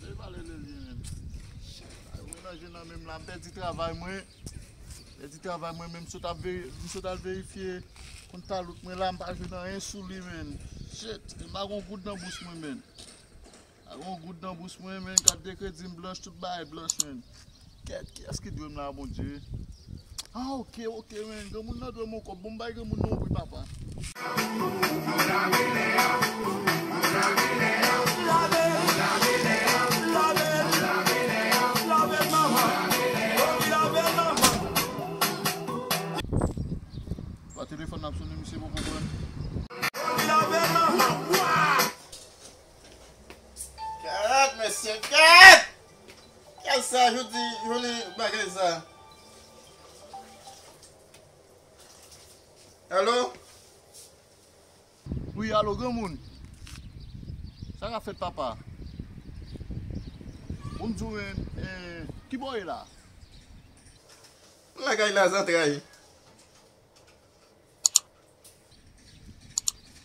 Mwen pale de li menm. Mwen nan je nan menm la, m pèdi travay mwen. M pèdi travay mwen menm sot ap veri, m sot al verifye kont talout mwen la, m pa jwenn anyen sou li menn. Shit, m pa gon goud nan bous mwen menn. M pa gon goud nan bous mwen menn, kat de kredi m blanch, tout bagay blanch menn. Kèt kiyès ki dwem la bondye. Ah ok ok men granmoun nan dwem yon kòb bon bay granmoun nan yon pri papa. Wa telefòn nan ap sone misye poko pran. Kay sa jodi jodi bagay sa. Alo. Wi alo granmoun. Sa kap fèt papa. Bon m di w menm e kibò w ye la. M lakay la zantray.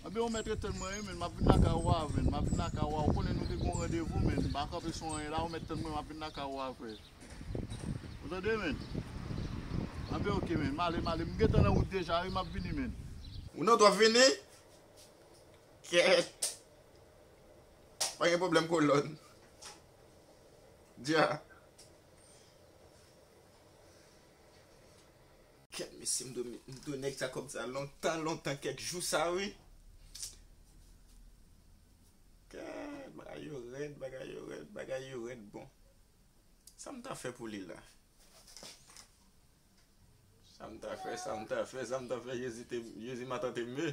Anben ou mèt ret-tann mwen wi menn map vin lakay ou avèn map vin lakay ou a ou konnen nou te gen yon randevou menn pa kanpe sou anyen la ou mèt tann mwen map vin lakay ou aprè ou tande menn anben ok menn male male m gentan nan wout deja wi map vini menn. Ou nan wout wap vini? Kèèt pa gen pwoblèm kolòn dya. Kèt mesye m dwe nèg sa kòb sa lontan lontan kèk jou sa wi. Kèt bagay yo rèd bagay yo rèd bagay yo rèd bon. Sa m ta fè pou li la. Sa m ta fè sa m ta fè sa m ta fè jezi te jezi ma tante m ye.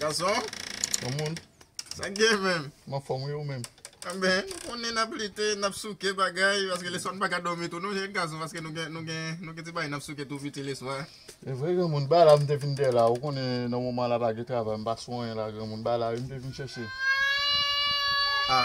Gason? Bon moun? Sa k gen menm? M anfòm wi, ou menm? Anben, nou konnen n ap lite, n ap souke bagay, paske leswa n pa ka dòmi tou non jèn gason, paske nou gen ti bagay n ap souke tou piti leswa. Se vre granmoun, ba la m te vin dèy la, ou konnen nan moman la pa gen travay, m pa sou anyen la granmoun, ba la wi m te vin chèche. A!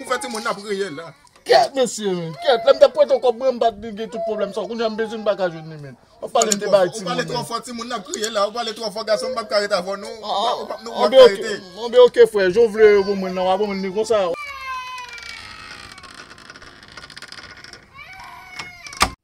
Ou fè ti moun nan ap reyèl la. Kèt mesye men, kèt. Lè m t ap prete w kòb mwen m pa t vin gen tout pwoblèm sa. Kounye a m bezwen m pa ka jwenn li menm. W ap pale m te bay ti moun nan. Ou pale twò fò ti moun nan ap kriye la. Ou pale twò fò gason m pa p ka ret avè w non. Ou pa p ka rete. Anben ok frè, jan w vle ban mwen l lan w a ban mwen li konsa.